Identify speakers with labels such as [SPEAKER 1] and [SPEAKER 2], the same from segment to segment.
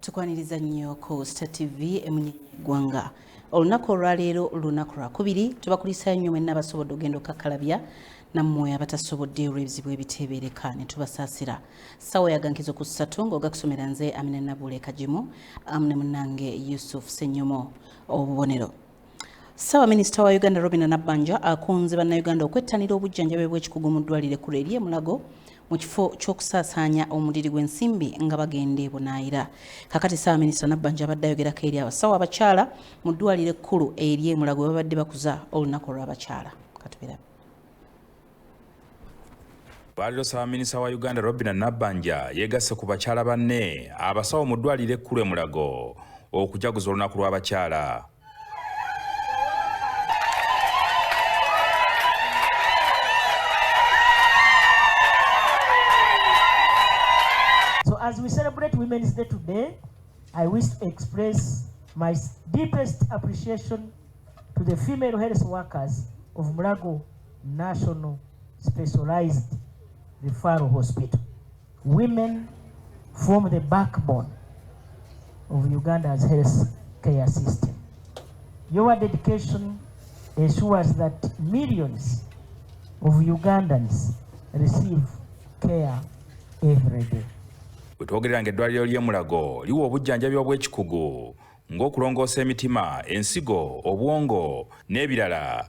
[SPEAKER 1] tukwaniriza nnyo ku star tv emunyenye eggwanga olunaku olwaleero lunaku lwakubiri tubakulisayo nnyo mwenna abasobodde ogenda okakkalabya nammwe abatasobodde olw'ebizibu ebiteebereka ne tubasaasira ssaawa yagankizo ku ssatu ng'ogakusomera nze amina nabuule kagimu amu ne munnange yusuf senyomo obubonero Ssaabaminisita wa Uganda Robina Nabbanja akunze bannayuganda okwettanira obujjanjabi bw'ekikugu mu ddwaliro ekkulu ery'e Mulago mu kifo ky'okusaasaanya omuliri gw'ensimbi nga bagenda ebunaayira kakati ssaabaminisita Nabbanja abadde ayogerako eri abasawo abakyala mu ddwaliro ekkulu ery'e Mulago babadde bakuza olunaku olw'abakyala katubirabe
[SPEAKER 2] Bwaliro Ssabaminisa wa Uganda Robina Nabbanja yegasse ku bakyala banne abasawo mu ddwaliro ekkulu e Mulago okujaguza olunaku lw'abakyala.
[SPEAKER 3] So as we celebrate Women's Day today, I wish to express my deepest appreciation to the female health workers of Mulago National Specialized Referral Hospital. Women form the backbone of Uganda's health care system. Your dedication ensures that millions of Ugandans receive care every day. Wetwogerera nga
[SPEAKER 2] eddwaliro ly'e Mulago liwa obujjanjabi obw'ekikugu ng'okulongoosa emitima, ensigo, obwongo n'ebirala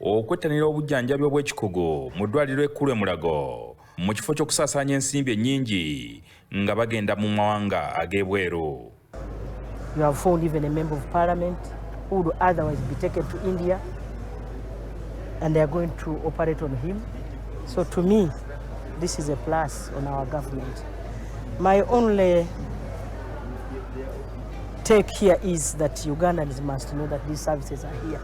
[SPEAKER 2] okwettanira obujjanjabi obw'ekikugu mu ddwaliro ekkulu e Mulago mu kifo ky'okusaasaanya ensimbi ennyingi nga bagenda mu mawanga ag'ebweru
[SPEAKER 3] You have found even a member of parliament who would otherwise be taken to India and they are going to operate on him. So to me, this is a plus on our government. My only take here is that Ugandans must know that these services are here.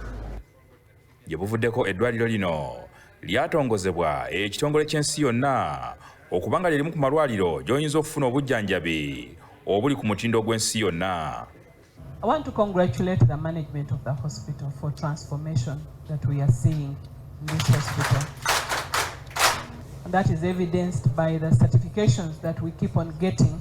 [SPEAKER 3] Gye
[SPEAKER 2] buvuddeko eddwaliro lino lyatongozebwa ekitongole ky'ensi yonna okuba nga lyerimu ku malwaliro gy'oyinza okufuna obujjanjabi obuli ku mutindo ogw'ensi yonna. I want to
[SPEAKER 4] congratulate the management of the hospital for transformation that we are seeing in this hospital. And that is evidenced by the certifications that we keep on getting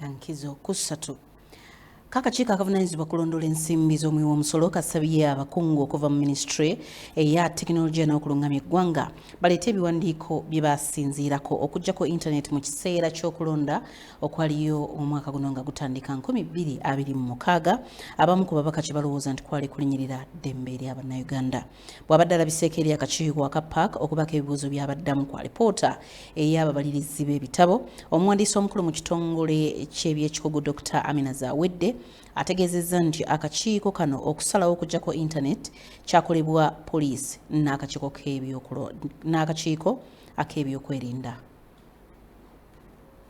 [SPEAKER 1] kankizo kusatu kakakiiko akavunanyizibwa kulondoola ensimbi z'omuwi w'omusolo kasabye abakungu okuva mu minisitule eya tekinologiya n'okulungamya eggwanga baleete ebiwandiiko bye basinziirako okuggyako intaneti mu kiseera ky'okulonda okwaliyo omwaka guno nga gutandika 2026 abamu ku babaka kye balowooza nti kwali kulinyirira ddembe lya bannayuganda Bw'abadde alabiseeko eri akakiiko aka park okubaako ebibuuzo by'abaddamu ku alipoota ey'ababalirizi b'ebitabo, omuwandiisi omukulu mu kitongole ky'ebyekikugu Dokita Amina Zawedde ategeezezza nti akakiiko kano okusalawo okujjako internet kyakolebwa poliisi n'akakiiko ak'ebyokwerinda.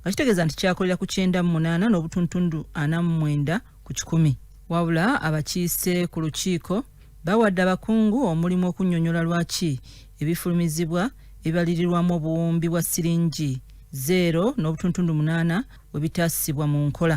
[SPEAKER 5] nga kitegeeza nti kyakolera ku kyenda mu munaana n'obutuntundu ana mu mwenda ku kikumi wabula abakiise ku lukiiko bawadde abakungu omulimu okunnyonnyola lwaki ebifulumizibwa ebibalirirwamu obuwumbi bwa siringi zeero n'obutuntundu munaana we bitaasibwa mu nkola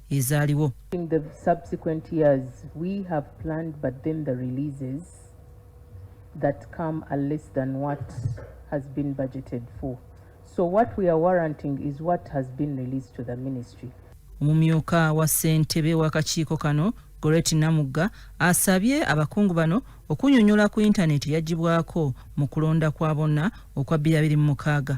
[SPEAKER 5] ezaaliwo In the
[SPEAKER 4] subsequent years, we have planned, but then the releases that come are less than what has been budgeted for. So what we are warranting is what has been released to the ministry. Omumyuka
[SPEAKER 5] wa ssentebe w'akakiiko kano Goreti Namugga asabye abakungu bano okunyonyola ku yintaneti yagibwako mu kulonda kwa bonna okwa 2006.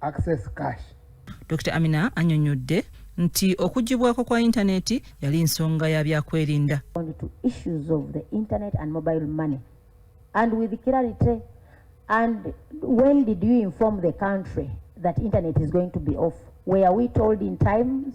[SPEAKER 6] access cash. Dr
[SPEAKER 5] Amina anyonyodde nti okugibwako kwa yintaneti yali nsonga ya byakwerinda.
[SPEAKER 7] And with clarity and when did you inform the country that internet is going to be off? Were we told in times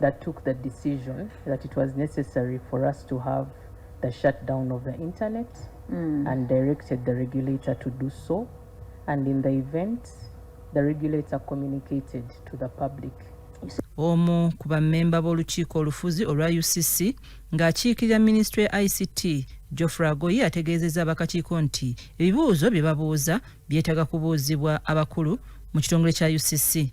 [SPEAKER 4] that took the decision that it was necessary for us to have the shutdown of the internet mm. and directed the regulator to do so. And in the event, the regulator communicated to the public. omu
[SPEAKER 5] ku bammemba b'olukiiko olufuzi olwa ucc ng'akiikirira minisitule ya ict geoffrey agoye ategeezezza abakakiiko nti ebibuuzo bye babuuza byetaaga kubuuzibwa abakulu mu kitongole kya ucc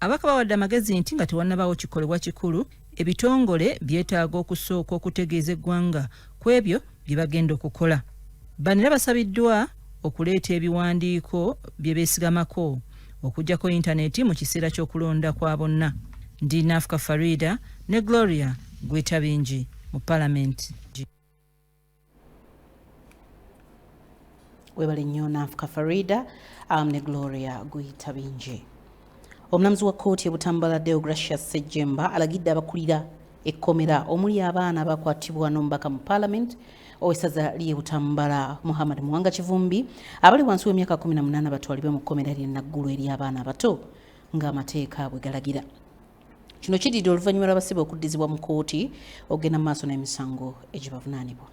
[SPEAKER 8] Ababaka bawadde
[SPEAKER 5] amagezi nti nga tewannabaawo kikolebwa kikulu, ebitongole byetaaga okusooka okutegeeza eggwanga ku ebyo bye bagenda okukola. Bano era basabiddwa okuleeta ebiwandiiko bye beesigamako okuggyako yintaneeti mu kiseera ky'okulonda kwa bonna. Ndi Nafuka Farida ne Gloria Gwetabingi mu Palamenti.
[SPEAKER 1] webale nnyo nanfuka farida um, ne gloria guyita bingi omulamuzi wa kkooti ebutambala deogratia sejjemba alagidde abakulira ekkomera omuli abaana abakwatibwa n'omubaka mu paalamenti owesaza lye butambala muhammad muwanga kivumbi abali wansi w'emyaka 18 batwalibwe mu kkomera lye naggulu eri abaana abato ng'amateeka bwe galagira Kino kididde oluvannyuma lw'abasibe okuddizibwa mu kkooti okugenda mu maaso n'emisango egibavunaanibwa.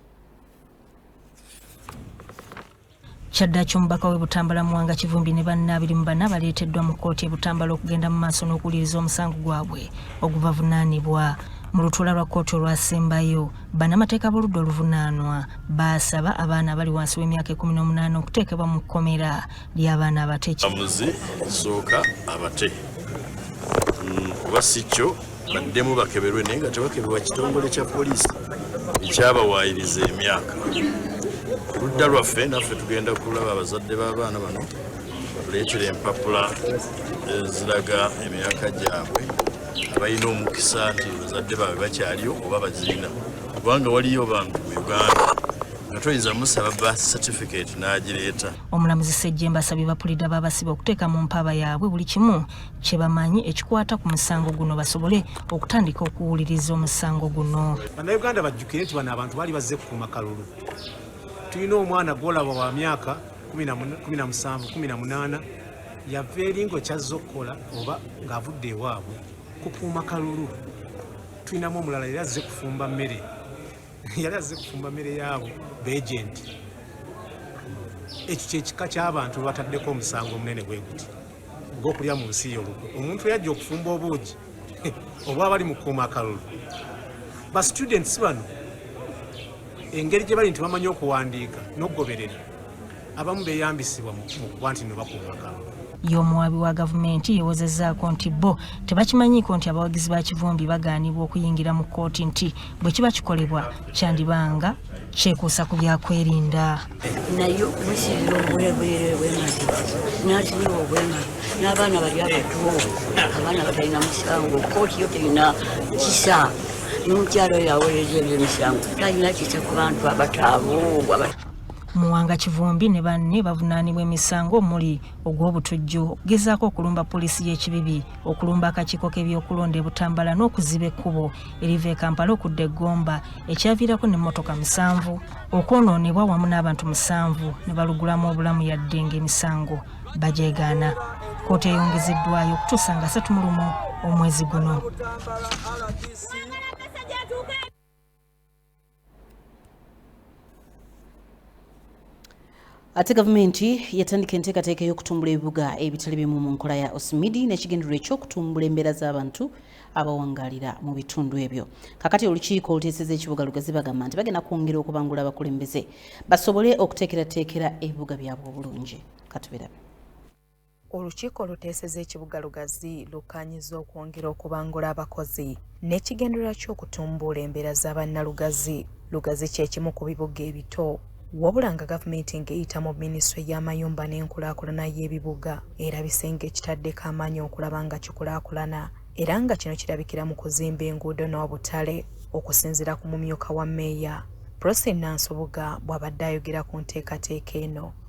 [SPEAKER 9] kyaddaki omubaka we butambala muwanga kivumbi ne banna abiri mu bana baleeteddwa mu kkooti e butambala okugenda mu maaso n'okuwuliriza omusango gwabwe ogubavunaanibwa mu lutuula lwa kkooti olwasembayo bannamateeka b'oludda oluvunaanwa baasaba abaana abali wansi w'emyaka 18 okuteekebwa mu kkomera ly'abaana abate kyamuzi
[SPEAKER 10] sooka abate mm, kuba si kyo baddemu bakeberwe naye nga tebakeberwa kitongole kya poliisi ekyabawaayiriza emyaka ludda lwaffe naffe tugenda kulaba abazadde b'abaana bano batuleetera empapula eziraga eh, emyaka gyabwe abalina omukisa nti bazadde baabwe bakyaliyo oba bazirina kubanga waliyo bantu mu uganda nga toyinza musaba ba certificate n'agireeta Omulamuzi Ssejjemba
[SPEAKER 9] asabye bapuliida b'abasibe okuteeka mu mpaaba yaabwe buli kimu kye bamanyi ekikwata ku musango guno basobole okutandika okuwuliriza omusango guno. Bannayuganda bajjukire
[SPEAKER 11] nti bano abantu baali bazze kukuuma kalulu. Tulina omwana gwolaba wa myaka 17-18 yava eringo kyazze okukola oba ng'avudde ewaabwe kukuuma kalulu. Tulinamu omulala era azze kufumba mmere yali azze kufumba mmere yaabo beejenti ekyo kyekika ky'abantu bataddeko omusango omunene bwe guti ogw'okulya mu nsi y'olukwe omuntu yajja okufumba obuugi obwa bali mu kuuma akalulu ba students bano engeri gye bali nti bamanyi okuwandiika n'okugoberera abamu beyambisibwa mu kuba nti no bakubaga y'omuwaabi wa
[SPEAKER 9] gavumenti yewozezzaako nti bo tebakimanyiiko nti abawagizi ba kivumbi bagaanibwa okuyingira mu kkooti nti bwe kiba kikolebwa kyandibanga kyekuusa ku byakwerinda naye
[SPEAKER 12] musiibira obulebwere bwemagi n'asibiwa obwemagi n'abaana bali abatu abaana batalina musango kkooti yo terina kisa n'omukyalo yawolereza ebyomisango talina kisa ku bantu abataabu Muwanga
[SPEAKER 9] Kivumbi ne banne bavunaanibwa emisango omuli ogw'obutujju, okugezaako okulumba poliisi y'ekibibi, okulumba akakiiko k'ebyokulonda e Butambala n'okuziba ekkubo eriva e Kampala okudda e Gomba ekyaviirako n'emmotoka musanvu okwonoonebwa wamu n'abantu musanvu ne balugulamu obulamu yadde ng'emisango bagyegaana. Kkooti eyongezeddwayo okutuusa nga asatu mu lumu omwezi guno.
[SPEAKER 1] ate gavumenti yatandika enteekateeka ey'okutumbula ebibuga ebitali bimu mu nkola ya osimidi n'ekigendererwa eky'okutumbula embeera z'abantu abawangalira mu bitundu ebyo kakati olukiiko oluteeseza ekibuga lugazi bagamba nti bagenda kwongera okubangula abakulembeze basobole okuteekerateekera ebibuga byabwe obulungi katubirabe
[SPEAKER 13] Olukiiko oluteeseza ekibuga Lugazi lukkaanyizza okwongera okubangula abakozi n'ekigendererwa ky'okutumbuula embeera za bannalugazi. Lugazi kye kimu ku bibuga ebito wabula nga gavumenti ng'eyita mu minisitule y'amayumba n'enkulaakulana y'ebibuga erabise ng'ekitaddeko amaanyi okulaba nga kikulaakulana era nga kino kirabikira mu kuzimba enguudo n'obutale okusinziira ku mumyuka wa meeya Prossy Nansubuga bw'abadde ayogera ku nteekateeka eno.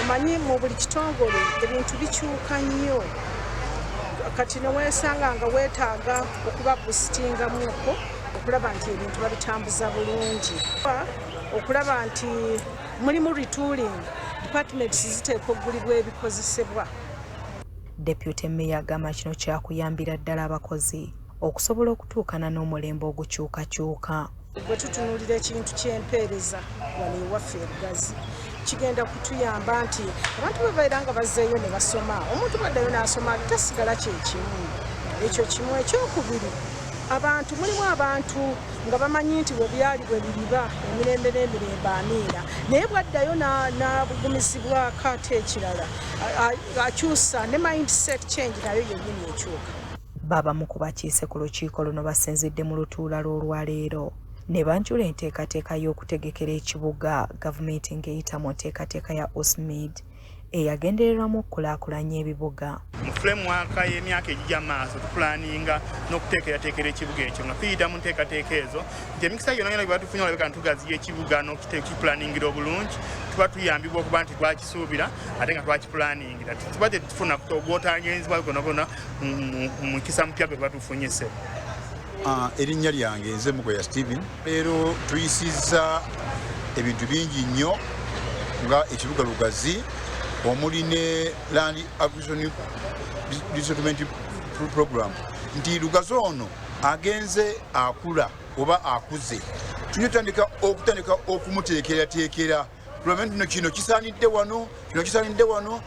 [SPEAKER 14] omanyi mu buli kitongole ebintu bikyuka nnyo kati newesanga nga wetaaga okuba busitingamuko okulaba nti ebintu babitambuza bulungi okulaba nti mulimu retooling departments ziteekwa okugulibwa ebikozesebwa
[SPEAKER 13] deputy meya agamba kino kyakuyambira ddala abakozi okusobola okutuukana n'omulembe ogukyukakyuka Bwe tutunuulira
[SPEAKER 14] ekintu ky'empeereza wano ewaffe ebugazi kigenda kutuyamba nti abantu bwe babeera nga bazzeeyo ne basoma omuntu bwaddayo n'asoma tasigala kyekimu ekyo kimu ekyokubiri abantu mulimu abantu nga bamanyi nti webyali bwe biriba emirembe n'emirembe amiina naye bwaddayo n'abugumizibwako ate ekirala akyusa ne mindset change nayo yennyini ekyuka Babamu ku
[SPEAKER 13] bakiise ku lukiiko luno basinzidde mu lutuula lw'olwaleero ne banjula enteekateeka y'okutegekera ekibuga gavumenti ng'eyita mu nteekateeka ya USMID eyagendererwamu okukulaakulanya ebibuga. Mu fulemwaka
[SPEAKER 15] y'emyaka egijja maaso tupulaninga n'okuteekerateekera ekibuga ekyo nga tuyita mu nteekateeka ezo nti emikisa yonna yona gyebatufunye olabika ntugaziya ekibuga n'okipulaningira obulungi tuba tuyambibwa okuba nti twakisuubira ate nga twakipulaningira tuba tetufuna gwotangenzibwa gonagona mukisa mupya gwe batufunyise ah,
[SPEAKER 16] erinnya lyange nze mugoya steven leero tuyisizza ebintu bingi nnyo nga ekibuga lugazi omuli ne land acquisition resettlement program nti lugazi ono agenze akula oba akuze tuyotandika okutandika okumuteekerateekera Lwamenti no kino kisanidde wano kino kisanidde wano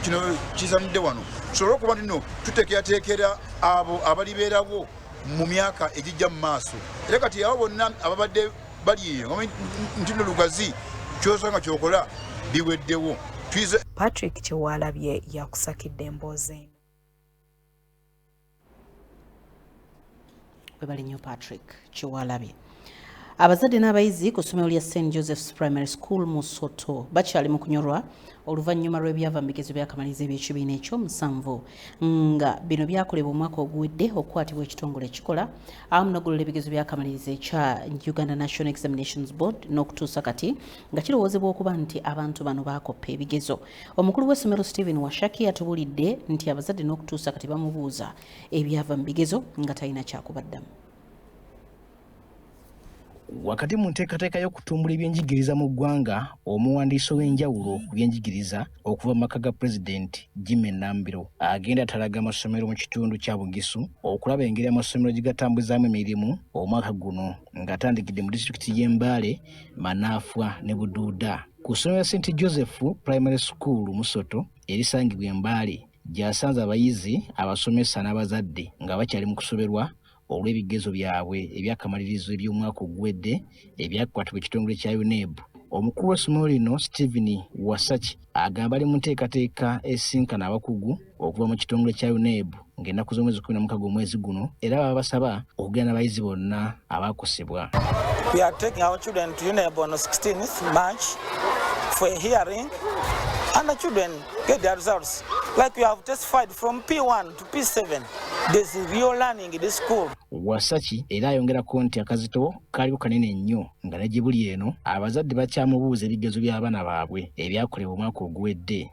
[SPEAKER 16] kino kisanidde wano tusobole okuba nti no tuteekerateekera abo abalibeerawo mu myaka egijja mu maaso era kati abo bonna ababadde bali eyo nti no lugazi kyosanga kyokola biweddewo patrick
[SPEAKER 13] kyewalabye yakusakidde emboozi
[SPEAKER 1] webale nnyo patrick kyewalabye abazadde n'abayizi ku ssomero lya st joseph's primary school mu soto bakyali mu kunyolwa oluvannyuma lw'ebyava mu bigezo byakamaliriza eby'ekibiina ekyo musanvu nga bino byakolebwa omwaka oguwedde okukwatibwa ekitongole ekikola awamu nogolola ebigezo byakamaliriza ekya uganda national examinations board n'okutuusa kati nga kirowoozebwa okuba nti abantu bano baakoppa ebigezo Omukulu w'essomero Stephen Washaki atubulidde nti abazadde n'okutuusa kati bamubuuza ebyava mu bigezo nga talina kyakubaddamu.
[SPEAKER 17] Wakati mu nteekateeka y'okutumbula ebyenjigiriza mu ggwanga, omuwandiisi ow'enjawulo ku byenjigiriza okuva mu maka ga Pulezidenti Jimmy Nambiro agenda atalaga amasomero mu kitundu kya Bugisu okulaba engeri amasomero gye gatambuzaamu emirimu omwaka guno ng'atandikidde mu disitulikiti y'e Mbale, Manaafwa ne Buduuda. Ku ssomero lya St Joseph Primary School Musoto erisangibwa e Mbale gy'asanze abayizi, abasomesa n'abazadde nga bakyali mu kusoberwa olw'ebigezo byabwe ebyakamalirizo eby'omwaka oguwedde ebyakwatibwa ekitongole kya UNEB. Omukulu w'essomero lino Stephen Wasaki agamba ali mu nteekateeka esinkana abakugu okuva mu kitongole kya UNEB ng'ennaku z'omwezi kumi na mukaga omwezi guno era baba basaba okugenda n'abayizi bonna abaakosebwa
[SPEAKER 18] for a hearing and the children get their results. Like we have testified from P1 to P7, there's real learning in this school. Wasaki era
[SPEAKER 17] ayongerako nti akazito kaliko kanene nnyo nga ne gye buli eno abazadde bakyamubuuza ebigezo by'abaana baabwe ebyakolebwa omwaka oguwedde.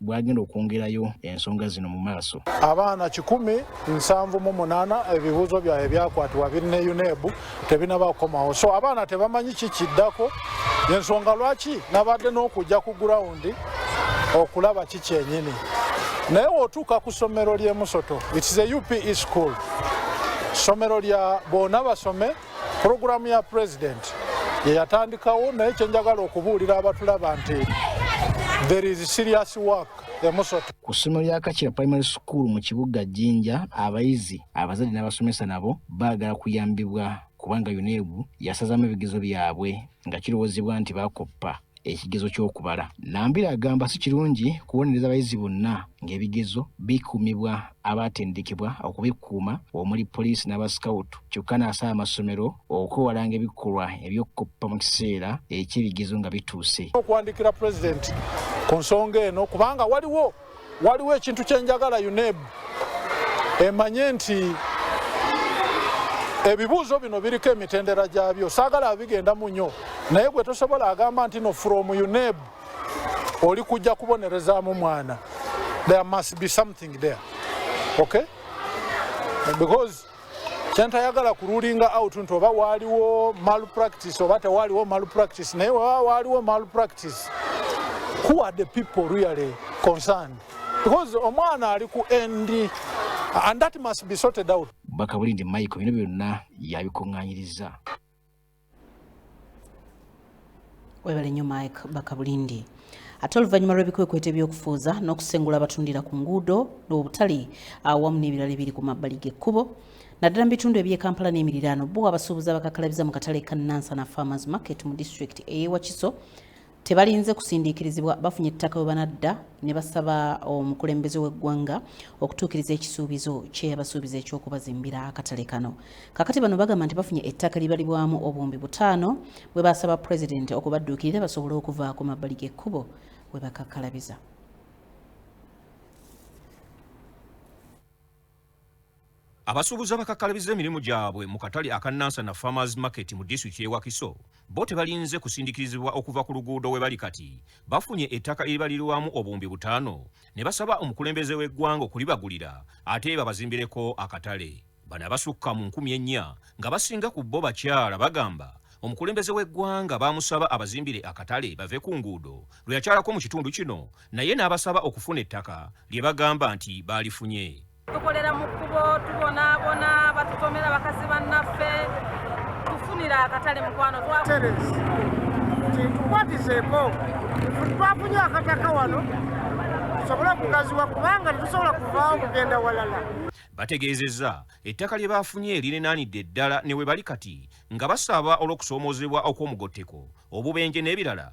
[SPEAKER 17] bwagenda okwongerayo ensonga zino mu maaso. Abaana kikumi
[SPEAKER 19] nsanvu mu munaana ebibuuzo byabwe byakwatibwa biri ne UNEB tebinaba kukomawo, so abaana tebamanyi kikiddako yensonga lwaki nabadde n'okujja ku gurawundi okulaba ki kyenyini naye wotuuka ku ssomero ly'emusoto its a upe school ssomero lya bona basome Pulogulaamu ya pulezidenti ye yatandikawo naye kye njagala okubuulira abatulaba nti there is serious work emusoto ku ssomero lya kakira
[SPEAKER 17] primary school mu kibuga jinja abayizi abazadde n'abasomesa nabo baagala kuyambibwa kubanga unebu yasazaamu ebigezo byabwe nga kirowoozebwa nti bakoppa ekigezo ky'okubala. Nambira agamba si kirungi kubonereza bayizi bonna ng'ebigezo bikuumibwa abaatendekebwa okubikuuma omuli poliisi n'abasikawutu kyokka n'asaba amasomero okwewalanga ebikolwa eby'okukoppa mu kiseera eky'ebigezo nga bituuse. Okuwandiikira Pulezidenti
[SPEAKER 19] ku nsonga eno kubanga waliwo Waliwo ekintu kye njagala UNEB emanye nti ebibuuzo bino biriko emitendera gyabyo saagala abigenda mu nyo naye gwe tosobola agamba nti no from UNEB oli kujja kubonerezaamu mwana there must be something there okay because kyentayagala ku ruling out nti oba waaliwo malpractice oba tewaaliwo malpractice naye waba waaliwo malpractice who are the people really concerned because omwana ali ku end and that must be sorted out bakabulindi michael
[SPEAKER 17] bino byonna yabikuŋŋanyiriza
[SPEAKER 1] webale nnyo mike bakabulindi ate oluvannyuma lw'ebikwekweto eby'okufuuza n'okusengula abatundira ku nguudo n'obutale awamu n'ebirala ebiri ku mabbali g'ekkubo naddala mu bitundu eby'e kampala n'emiriraano bo abasuubuzi abakakalabiza mu katale ka nansana farmers market mu disitulikiti ey'e wakiso tebalinze kusindiikirizibwa bafunye ettaka we banadda ne basaba omukulembeze w'eggwanga okutuukiriza ekisuubizo kye yabasuubiza eky'okubazimbira akatale kano kakati bano bagamba nti bafunye ettaka libalibwamu obuwumbi butaano bwe basaba pulezidenti okubadduukirira basobole okuva ku mabbali g'ekkubo we bakakkalabiza
[SPEAKER 20] Abasuubuzi abakakkalabizza emirimu gyabwe mu katale aka Nansana Farmers Market mu disitulikiti y'e Wakiso bo tebalinze kusindikirizibwa okuva ku luguudo we bali kati bafunye ettaka eribalirwamu obuwumbi butaano ne basaba omukulembeze w'eggwanga okulibagulira ate babazimbireko akatale. Bano abasukka mu nkumi ennya nga basinga ku bo bakyala bagamba omukulembeze w'eggwanga baamusaba abazimbire akatale bave ku nguudo lwe yakyalako mu kitundu kino naye n'abasaba okufuna ettaka lye bagamba nti baalifunye. tukolera mu kkubo
[SPEAKER 21] tubonaabona batutomera bakazi bannaffe tufunira akatale mukwano twaterezi
[SPEAKER 22] kyetukwatizeeko twafunye akataka wano tusobole okugaziwa kubanga tetusobola kuvaawo kugenda walala bategeezezza
[SPEAKER 20] ettaka lye baafunye lirinaanidde ddala ne we bali kati nga basaba olw'okusoomoozebwa okw'omugotteko obubenje n'ebirala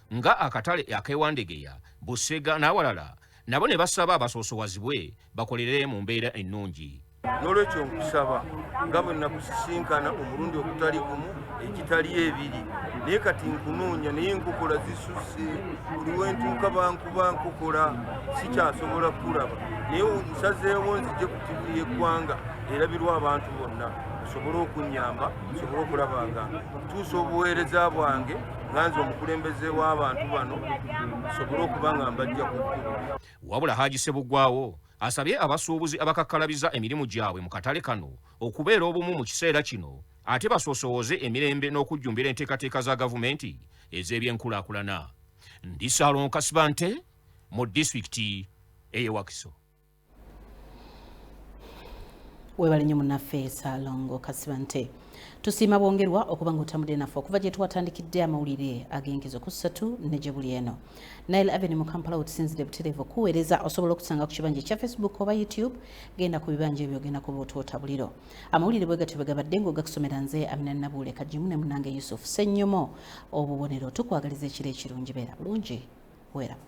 [SPEAKER 20] nga akatale ak'e Wandegeya, Busega n'awalala nabo ne basaba basoosowazibwe bakolere mu mbeera ennungi. N'olwekyo
[SPEAKER 23] nkusaba nga bwe nakusisinkana omulundi ogutali gumu egitali ebiri naye kati nkunoonya naye nkokola zisusse buli wentuuka bankuba nkokola sikyasobola kukulaba naye nsazeewo nzije ku tivi y'eggwanga erabirwa abantu bonna osobole okunnyamba osobole okulaba nga ntuusa obuweereza bwange nganze omukulembeze w'abantu bano nsobole okuba nga mbajja ku kkubo wabula haji
[SPEAKER 20] sebugwawo asabye abasuubuzi abakakkalabiza emirimu gyabwe mu katale kano okubeera obumu mu kiseera kino ate basoosowooze emirembe n'okujjumbira enteekateeka za gavumenti ez'ebyenkulaakulana ndi saalonka sibante mu disitulikiti ey'ewakiso
[SPEAKER 1] webale nnyo munaffe salongo kasibante tusiima bwongerwa okuba nga otambudde naffe okuva gye twatandikidde amawulire ag'enkizo ku ssatu ne gye buli eno nile aveni mu kampala wetusinzidde butereevu okuweereza osobola okusanga ku kibanja ekya facebook oba youtube genda ku bibanja ebyo ogenda kuba otwota buliro amawulire bwe gatyo bwe gabadde ng'ogakusomera nze amina nabuule kagimu ne munange yusufu sennyomo obubonero tukwagaliza ekiro ekirungi beera bulungi weeramu